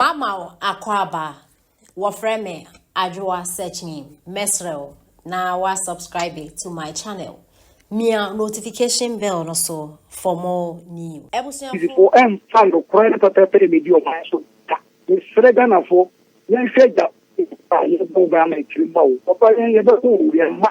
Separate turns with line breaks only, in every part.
Mama wo akwaaba a wɔfrɛ me Adwoa Searchnim mɛsrɛ wo na wa subscribe to my channel mia notification bell no so for more news. Abusuafo. Fo ɛnfa
nokorɛ ne pɛpɛɛpɛ ɛmɛdi ɔman no so da. Mesrɛ Ghanafoɔ yɛnhwɛ agya a yɛbɔ wo bɛ ama akyire mma wo. Papa yɛn yɛbɛko wo yɛn mma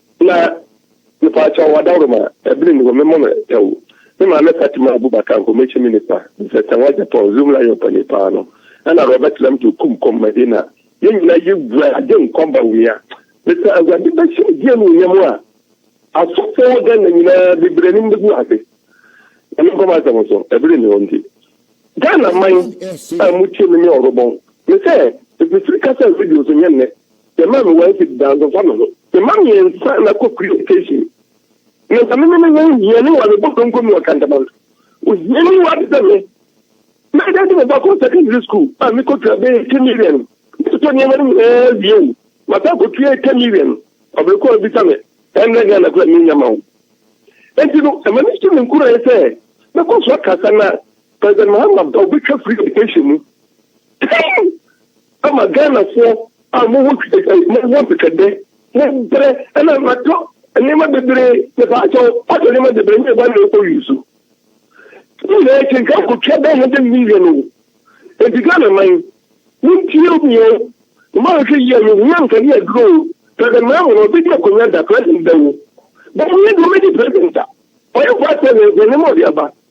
Na mepaakyɛw ɔdawuroma ɛbene ne hɔ me mɔ no tɛw me maame Fatima Abubakar nkɔmɛkyi me nipa sɛ sɛ wɔn Japan zoom la yɛ ɔpani paa no ɛna Robert Lam to kum kɔm Madina yɛn nyina yɛ wura ade nkɔm ba wia mesɛ awurade bɛhyɛ ɔdi ɛnu yɛ mo a asɔfo wɔ Ghana nyinaa bebrɛ ne mbɛgu ase na me nkɔm asɛm so ɛbene ne hɔ nti Ghana man a mo tie me me ɔrobɔn mesɛ ɛfisiri kasa radio so nyɛ nnɛ Yɛ maa me one cedi daa nso nfa me ho. Yɛ ma me nsa na kɔ police station na nka me ne me ho hia ne wa me bɔ donko me wɔ kantaman ohia ni wa te sɛ me na ɛdɛ de me ba kɔ secondary school a me kɔ tua bɛyɛ ten million me totɔ nneɛma no nyinaa wie o masa kɔ tua ten million ɔbɛrɛ kɔ abisa me ɛnna gana kura me nyama o enti no ɛma ne si me nkura yɛ sɛ mɛkɔ so akasa na president mahama ba obɛtwa free education mu ama Ghanafoɔ a mowɔ mowɔ twɛtwɛdɛ, mobrɛ ɛna matɔ nneɛma bebree, mepaa kyɛw matɔ nneɛma bebree nyɛ ba na ɛkɔ use so. Ne nyinaa akyi nka kɔtwa bɛyɛ hundred million o. Enti Ghana man, montie obi o, mma nhwɛ yie no, hia nkane aduro o. President Mahama no ɔbɛdi akonnwa da, president bɛwo. Bɛn yɛ deɛ ɔbɛdi president a, ɔyɛ vice president nneɛma ɔde aba.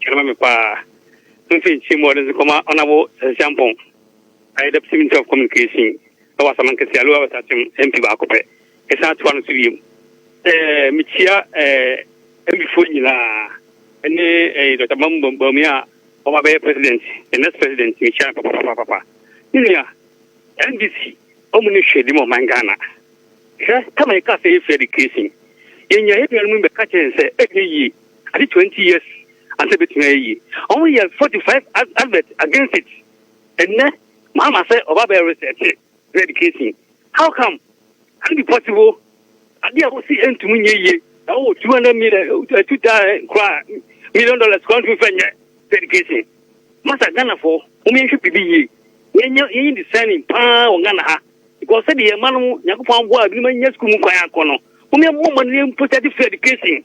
Kyɛ ma me paa. Mfe nkyem wɔ ɔde nso kɔma ɔnabo Sɛnsɛnpɔn ayɛ Deputy Minister of Communication wɔ Asamankɛse a Lower West Akyem MP baako pɛ ɛsan toa no so biom. Ɛɛ mekyia ɛɛ MP foɔ nyinaa ɛne ɛɛ Dr. Mahmoud Bawumia a ɔma bɛyɛ President, the next President mekyia no papapapapa. Me nua NDC ɔmo ne hwɛ di ma ɔman Ghana. Hwɛ tama yɛka sɛ yɛfiri education yɛnya yɛn nuanom bɛka kyerɛ yɛn sɛ ɛnyɛ yie. Ade twenty years ansa ebetumi ayɛ yie. Wɔn yɛ forty five advert against it. Ɛnɛ Mahama sɛ ɔba bɛyɛ research ne education. How come? Can it be possible? Ade a wosi ɛntumi nyɛ yie na wɔwɔ two hundred million two thousand koraa million dollars koraa ntumi fɛ nyɛ sɛ education. Masa Ghana fo wɔn yɛn hwɛ biribi yie. Yɛn nyɛ yɛn yɛ discerning paa wɔ Ghana ha because sɛdeɛ yɛn mma no Nyankopɔn aboa ebinom anya sukuu mu kwan akɔ no wɔn yɛn mmɔ mmɔden mpo sɛ de free education.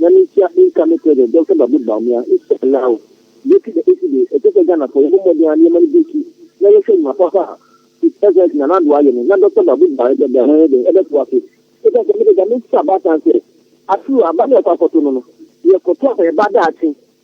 Nyame nhyira nka me president Doctor Babu Bawumia inshallah breaky the esi de ɛkyɛ sɛ Ghana fɔ yɛbɔ mmɔden a nneɛma no breaky na yɛhwɛ nnwuma papa a his excellency Nana Addo ayɛ no na Doctor Babu Bawumia ɛbɛ bɛ ɛbɛyɛ dɛn ɛbɛtoa so ɛsiane sɛ mede Nyame nhyira baatan sɛ aturo aba ne yɛkɔ akɔto no no yɛkɔto a yɛba daakye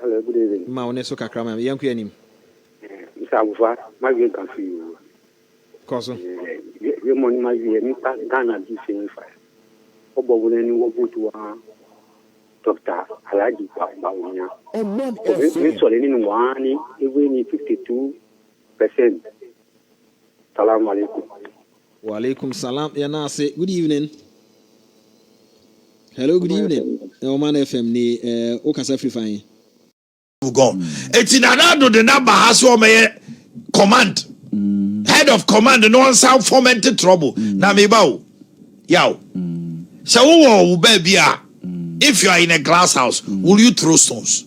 Hello,
good evening. Ma wo ne so kakra ma
yɛn kɔ anim. Mr. Abufa,
ma wie nka fi o. Kɔ so.
Yɛ
mo ni ma wie nipa Ghana di se ni fa. Ɔbɔ wo ni wo butu wa. Dr. Alhaji Bawumia. Ɔbɔn ɛfɛ. Me sɔre ni wa ni ewe ni 52 percent. Salaam alaikum. Wa alaikum
salam yɛ na ase good evening. Hello good evening ɛwɔ ma na fm ni ɛɛ eh, o kasa firi fa yi. God
eti nana ado de na ba ha so ɔmɛyɛ command mm. head of command na ɔnsan foment trouble mm. na mi ba o yaw sɛ wowɔ wo baabi a if you are in a glass house will you throw stones.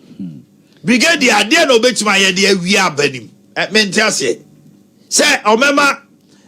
Hmm. Brigadier, adeɛ na ɔbɛtumi ayɛ de awie aba nim. Eh, mente aseɛ. Sɛ ɔmɛma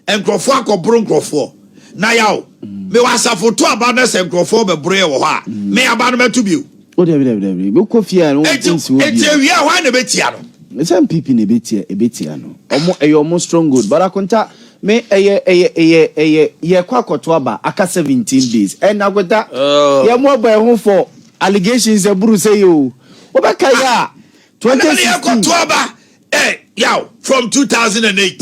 nkurɔfoɔ akɔboro nkurɔfoɔ. Na yaw, hmm. mewɔ asafo to aba no sɛ nkurɔfoɔ bɛboroeɛ wɔ hɔ a, hmm. me aba no mɛto bio. O dabi dabi dabi,
bɛkɔ fie a no wɔn nsi wɔ bio. Eti awia hɔ a na ɛbɛtia
no. Sɛ mpipi na ɛbɛtia
ɛbɛtia no. Ɔmo ɛyɛ ɔmo strong good. But akonta me ɛyɛ ɛyɛ ɛyɛ ɛyɛ yɛkɔ akɔto aba aka seventeen days ɛna akweta oh. yɛ mo ɔbɔ ɛho fɔ Allegations aburu sɛyi oo, wobɛkae a twenty sixteen. Ɛna yɛ kɔ to aba ɛ
yaw from two thousand and eight,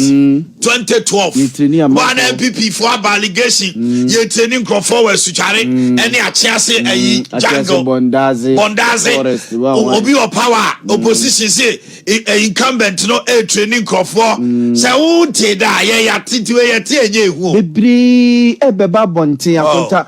twenty twelve wɔ ana NPP fo aba allegation yɛ training nkurɔfoɔ wɔ asutware ɛne akyease ayi jungle bɔndaze obi wɔ power a opposition se incumbent no ɛ training nkurɔfoɔ sɛ wo nte da yɛ yɛ titi yɛ te ɛnyɛ ehu o. Bebree
ɛbɛba abɔnten akonta.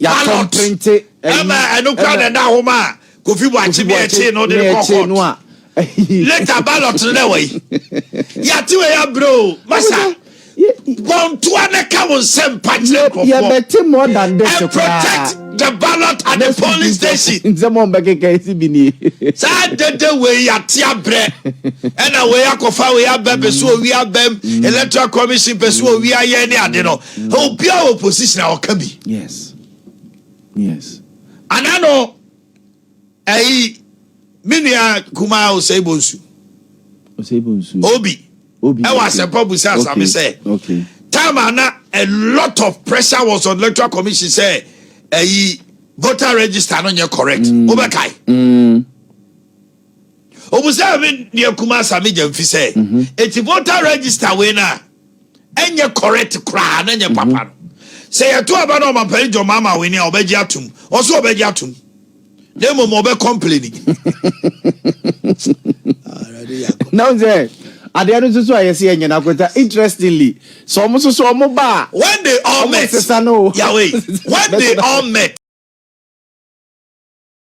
Ballot
ɛma ɛno
kura na ɛda hɔ ma Kofi Buakye ne ɛkye no de ne kɔ court. Later ballot no dɛ wɔ yi. Yate wɔ ya bro. Masa. Bontua ne ka wo nsɛm pa kyerɛ nkɔfoɔ.
And protect the
ballot at the polling station. Nsɛm wɔn bɛ keka esi
bi ni. Saa dede
wɔ yi yate abrɛ. Ɛna wɔ yi akɔfa wɔ yi abɛ pɛ so wɔ wi abɛm. Electoral commission pɛ so wɔ wi ayɛ ne ade no. obiara wɔ position a ɔka bi yes
yes
ana no ɛyi me nua kumaa osei bonsu osei bonsu obi obi ɛwɔ asɛmpa busa asame sɛ okay time
ana
a lot of pressure was on electoral commission sɛ ɛyi voter register no nyɛ correct mm. wobɛkae mm. Obusaa me nua kumaa Sammy Gyamfi sɛ, mhm. Eti voter register wei no a, ɛnyɛ correct koraa na ɛnyɛ mhm. papa no. Sɛ yɛto aba na ɔmampani John Mahama wei ni a, ɔbɛgye atom. Ɔso ɔbɛgye atom. Na mmom ɔbɛ complaini.
Na wo sɛ, adeɛ no nso so a yɛsɛ yɛnyɛ no akɔta interestingly sɛ ɔmo
nso so ɔmo ba
a
when they all
met yawei
when
they all
met